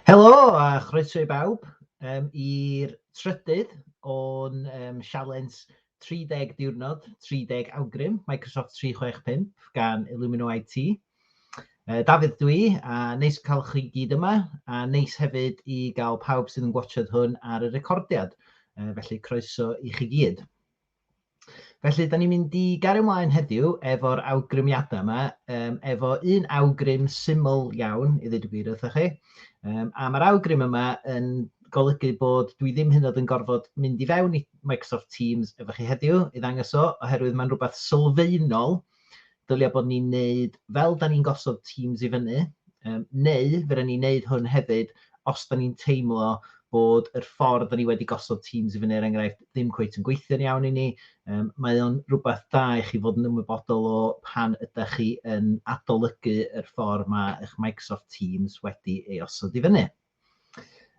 Helo a chroeso i bawb um, i'r trydydd o'n um, sialens 30 diwrnod, 30 awgrym Microsoft 365 gan Illumino IT. Uh, Dafydd dwi, a neis cael chi gyd yma, a neis hefyd i gael pawb sydd yn gwachod hwn ar y recordiad, uh, felly croeso i chi gyd. Felly, da ni'n mynd i gario ymlaen heddiw efo'r awgrymiadau yma, um, efo un awgrym syml iawn, i ddweud y gwir wrthych chi. Um, a mae'r awgrym yma yn golygu bod dwi ddim hyn oed yn gorfod mynd i fewn i Microsoft Teams efo chi heddiw i ddangos o, oherwydd mae'n rhywbeth sylfaenol dylia bod ni'n neud fel da ni'n gosod teams i fyny, um, neu fydden ni'n neud hwn hefyd os da ni'n teimlo bod yr ffordd da ni wedi gosod teams i fyny, er enghraifft, ddim cweith yn gweithio'n iawn i ni. Um, mae o'n rhywbeth da i chi fod yn ymwybodol o pan ydych chi yn adolygu yr ffordd mae eich Microsoft Teams wedi ei osod i fyny.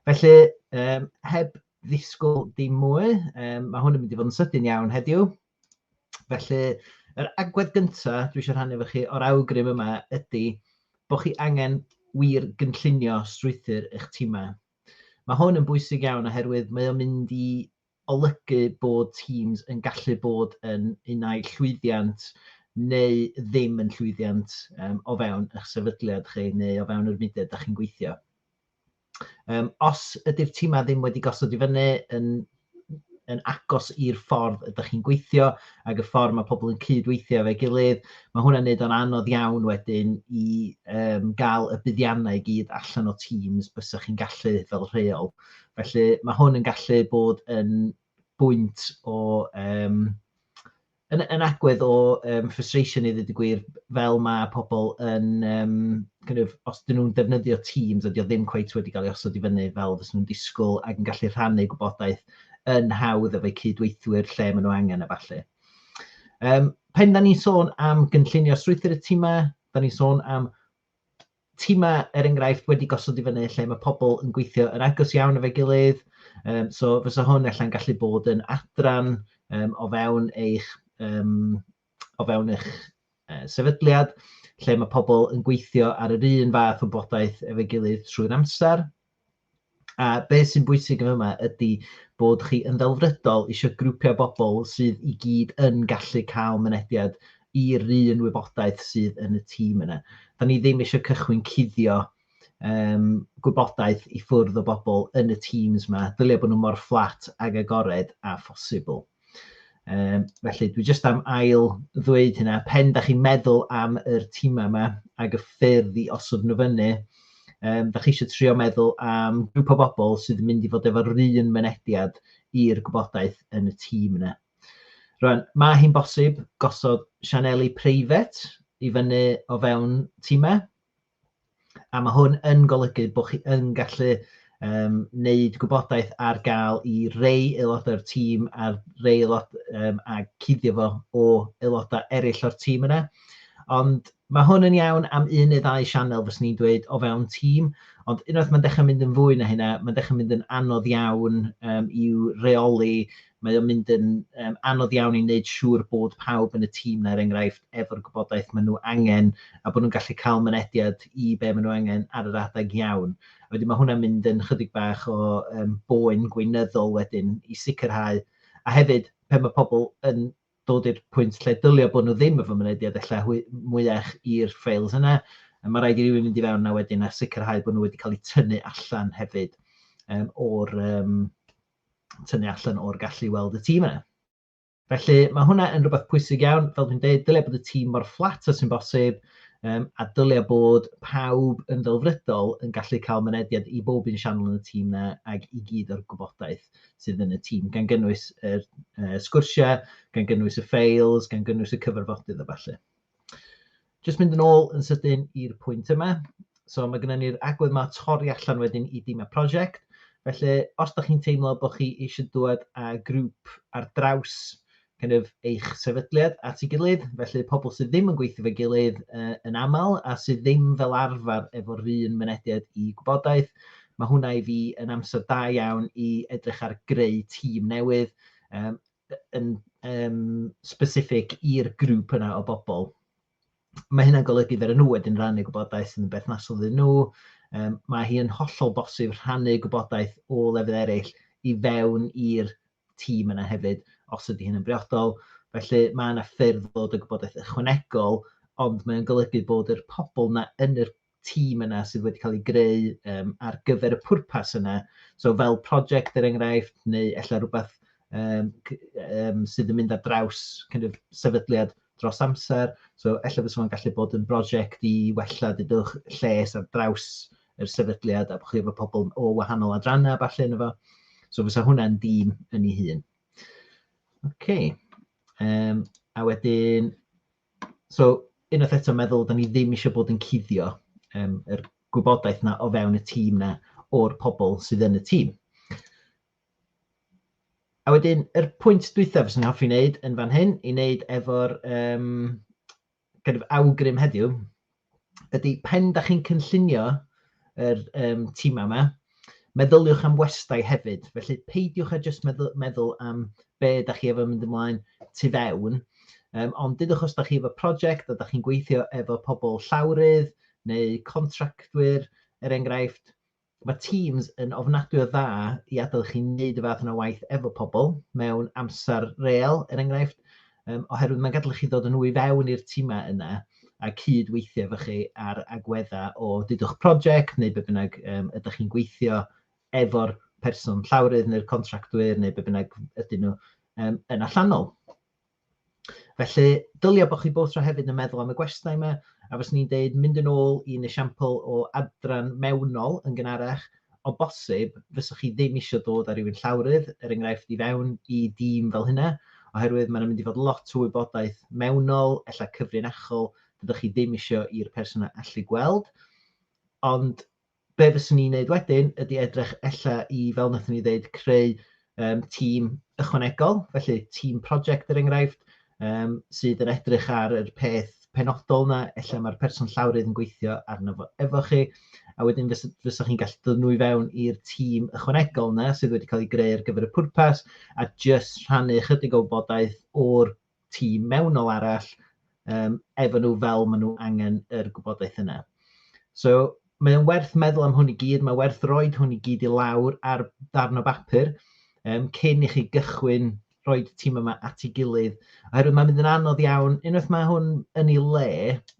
Felly, um, heb ddisgwyl dim mwy, um, mae hwn yn mynd i fod yn sydyn iawn heddiw. Felly, yr agwedd gyntaf dwi eisiau rhannu efo chi o'r awgrym yma ydy bod chi angen wir gynllunio strwythur eich tîmau. Mae hwn yn bwysig iawn oherwydd mae o'n mynd i olygu bod teams yn gallu bod yn un ai llwyddiant neu ddim yn llwyddiant um, o fewn eich sefydliad chi neu o fewn yr mudiad da chi'n gweithio. Um, os ydy'r tîmau ddim wedi gosod i fyny yn, yn agos i'r ffordd ydych chi'n gweithio ac y ffordd mae pobl yn cydweithio fe gilydd, mae hwnna'n neud o'n anodd iawn wedyn i um, gael y buddiannau i gyd allan o Teams bys chi'n gallu fel rheol. Felly mae hwn yn gallu bod yn bwynt o um, yn, yn agwedd o um, frustration i ddweud y gwir, fel mae pobl yn, um, kind of, os dyn nhw'n defnyddio Teams, ydy o ddim cweith wedi cael ei osod i fyny fel fes nhw'n disgwyl ac yn gallu rhannu gwybodaeth yn hawdd efo'u cydweithwyr lle maen nhw angen a falle. Um, pen da ni'n sôn am gynllunio strwythyr y tîmau, da ni'n sôn am timau, er enghraifft, wedi gosod i fyny lle mae pobl yn gweithio yn agos iawn efo'i gilydd. Um, so fysa hwn allan gallu bod yn adran um, o fewn eich um, o fewn eich uh, sefydliad lle mae pobl yn gweithio ar yr un fath o bodaeth efo'i gilydd trwy'r amser. A beth sy'n bwysig yn yma ydy bod chi yn ddelfrydol eisiau grwpiau bobl sydd i gyd yn gallu cael mynediad i'r un wybodaeth sydd yn y tîm yna. Da ni ddim eisiau cychwyn cuddio um, gwybodaeth i ffwrdd o bobl yn y teams yma. Dylia bod nhw mor fflat ag agored a phosibl. Um, felly, dwi jyst am ail ddweud hynna, pen da chi'n meddwl am yr tîmau yma ac y ffyrdd i osod nhw fyny, um, da chi eisiau trio meddwl am grŵp o bobl sydd yn mynd i fod efo'r un mynediad i'r gwybodaeth yn y tîm yna. Rwan, mae hi'n bosib gosod sianeli preifat i fyny o fewn tîmau, A mae hwn yn golygu bod chi yn gallu um, wneud gwybodaeth ar gael i rei aelodau'r tîm a'r rei aelod um, a cuddio fo o aelodau eraill o'r tîm yna. Ond mae hwn yn iawn am un neu ddau sianel fes ni'n dweud o fewn tîm, ond unwaith mae'n dechrau mynd yn fwy na hynna, mae'n dechrau mynd yn anodd iawn um, i'w reoli Mae o'n mynd yn yym anodd iawn i wneud siŵr bod pawb yn y tîm 'na er enghraifft efo'r gwybodaeth ma' nhw angen a bod nhw'n gallu cael mynediad i be' ma' nhw angen ar yr adeg iawn. A wedyn ma' hwnna'n mynd yn chydig bach o yym boen gweinyddol wedyn i sicrhau a hefyd pe ma' pobl yn dod i'r pwynt lle dylia bod nhw ddim efo mynediad ella hwy- mwyach i'r ffeils yna yy ma' raid i rywun mynd i fewn 'na wedyn a sicrhau bod nhw wedi cael eu tynnu allan hefyd yym o'r yym tynnu allan o'r gallu i weld y tîm yna. Felly mae hwnna yn rhywbeth pwysig iawn, fel dwi'n dweud, dylai bod y tîm mor fflat a sy'n bosib, um, a dylai bod pawb yn ddelfrydol yn gallu cael mynediad i bob un sianel yn y tîm yna ac i gyd o'r gwybodaeth sydd yn y tîm, gan gynnwys y uh, sgwrsiau, gan gynnwys y ffeils, gan gynnwys y cyfarfodydd a falle. Jyst mynd yn ôl yn sydyn i'r pwynt yma. So mae gennym ni'r agwedd yma torri allan wedyn i dîm y prosiect. Felly, os da chi'n teimlo bod chi eisiau dod â grŵp ar draws kind of, eich sefydliad at ei gilydd, felly pobl sydd ddim yn gweithio fe gilydd uh, yn aml a sydd ddim fel arfer efo'r un mynediad i gwybodaeth, mae hwnna i fi yn amser da iawn i edrych ar greu tîm newydd, um, yn um, specific i'r grŵp yna o bobl. Mae hynna'n golygu fer nhw wedyn rannu gwybodaeth sy'n berthnasol iddyn nhw. Um, mae hi yn hollol bosib rhannu gwybodaeth o lefydd eraill i fewn i'r tîm yna hefyd, os ydy hyn yn briodol. Felly mae yna ffyrdd ddod y gwybodaeth ychwanegol, ond mae'n golygu bod yr pobl yna yn yr tîm yna sydd wedi cael ei greu um, ar gyfer y pwrpas yna. So fel prosiect er enghraifft, neu efallai rhywbeth um, um, sydd yn mynd ar draws kind of, sefydliad dros amser. So efallai fysa fo'n gallu bod yn brosiect i wella dydwch lles ar draws yr sefydliad a bod chi efo pobl o wahanol adrannau falle yn efo. So fysa hwnna'n dîm yn ei hun. OK. Um, a wedyn, So, unwaith eto meddwl, da ni ddim eisiau bod yn cuddio um, yr gwybodaeth na o fewn y tîm na o'r pobl sydd yn y tîm. A wedyn, yr pwynt dwythaf sy'n hoffi wneud yn fan hyn, i wneud efo'r um, kind of awgrym heddiw, ydy pen da chi'n cynllunio yr um, timau yma, meddyliwch am westau hefyd. Felly peidiwch â jyst meddwl, meddwl am be da chi efo mynd ymlaen tu fewn, um, ond dydwch os da chi efo prosiect a da chi'n gweithio efo pobl llawrydd neu contractwyr, er enghraifft, Mae Teams yn ofnadwy o dda i adael i chi wneud y fath yna waith efo pobl mewn amser real, er enghraifft, um, oherwydd mae'n gadael i chi ddod yn nwy fewn i'r tîmau yna a cyd-weithio efo chi ar agweddau o dydwch prosiect neu be bynnag um, ydych chi'n gweithio efo'r person llawrydd neu'r contractwyr neu be bynnag ydyn nhw um, yn allanol. Felly, dylia bod chi both tro hefyd yn meddwl am y gwestai yma, a fes ni'n deud mynd yn ôl i'n esiampl o adran mewnol yn gynharach, o bosib, fyswch chi ddim eisiau dod â rhywun llawrydd, er enghraifft, i fewn i dîm fel hynna, oherwydd mae'n mynd i fod lot o wybodaeth mewnol, ella cyfrinachol, dydych chi ddim eisiau i'r person allu gweld. Ond Be fyswn i'n neud wedyn ydy edrych ella i, fel wnaethon ni ddeud, creu um, tîm ychwanegol, felly tîm project er enghraifft, um, sydd yn edrych ar yr peth penodol yna, ella mae'r person llawrydd yn gweithio arno fo efo chi, a wedyn fes, fysa chi'n gallu dod nhw i fewn i'r tîm ychwanegol yna sydd wedi cael ei greu ar gyfer y pwrpas, a just rhannu chydig o wybodaeth o'r tîm mewnol arall um, efo nhw fel maen nhw angen yr gwybodaeth yna. So, mae o'n werth meddwl am hwn i gyd, mae werth roed hwn i gyd i lawr ar ddarn o bapur um, cyn i chi gychwyn rhoi tîm yma at ei gilydd. Oherwydd mae'n mynd yn anodd iawn, unwaith mae hwn yn ei le,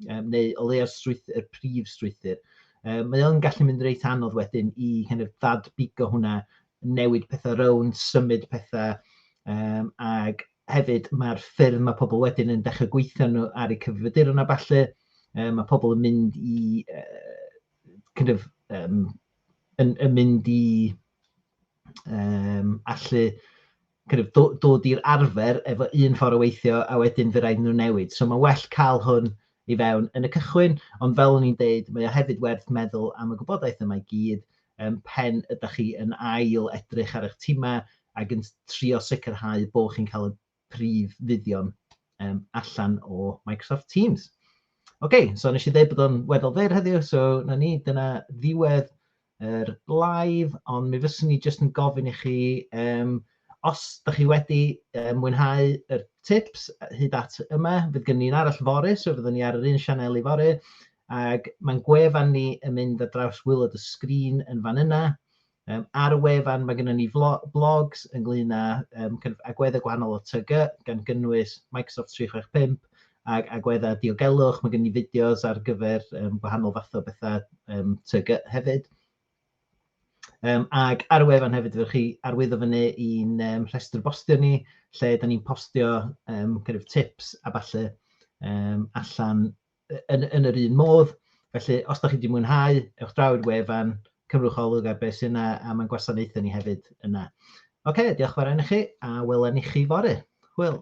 um, neu o le ar strwythyr, y prif strwythyr, um, mae o'n gallu mynd reit anodd wedyn i kind of, ddadbigo hwnna newid pethau rownd, symud pethau, um, ac hefyd mae'r ffyrdd mae pobl wedyn yn dechrau gweithio nhw ar y cyfrifiaduron a falle, um, mae pobl yn mynd i, uh, kind of, um, yn, yn mynd i um, allu kind of do- dod i'r arfer efo un ffordd o weithio a wedyn fe raid nhw newid. So mae'n well cael hwn i fewn yn y cychwyn, ond fel o'n i'n deud, mae o hefyd werth meddwl am y gwybodaeth yma i gyd um, pen ydych chi yn ail edrych ar eich timau ac yn trio sicrhau bod chi'n cael y prif fuddion um, allan o Microsoft Teams. Oce, okay, so nes i ddeud bod o'n weddol fer heddiw, so na ni, dyna ddiwedd yr live, ond mi fyswn i jyst yn gofyn i chi, um, os da chi wedi um, mwynhau yr tips hyd at yma, fydd gen i'n arall fori, so fyddwn ni ar yr un sianel i fori, ac mae'n gwefan ni yn mynd ar draws wylod y sgrin yn fan yna. Um, ar y wefan mae gennym ni blogs ynglyn â um, kind of agweddau gwahanol o TG, gan gynnwys Microsoft 365, ag agweddau diogelwch, mae gen ni fideos ar gyfer um, gwahanol fathau o bethau um, TG hefyd. Um, ag ar y wefan hefyd, ydych chi arwyddo fyny i'n um, rhestr bostio ni, lle da ni'n postio um, kind of tips a falle um, allan yn, yn yr un modd. Felly, os da chi wedi mwynhau, ewch draw i'r wefan, cymrwch olwg ar beth sy'n yna, a mae'n gwasanaethau ni hefyd yna. Oce, okay, diolch fawr i chi, a welen i chi fory. Hwyl.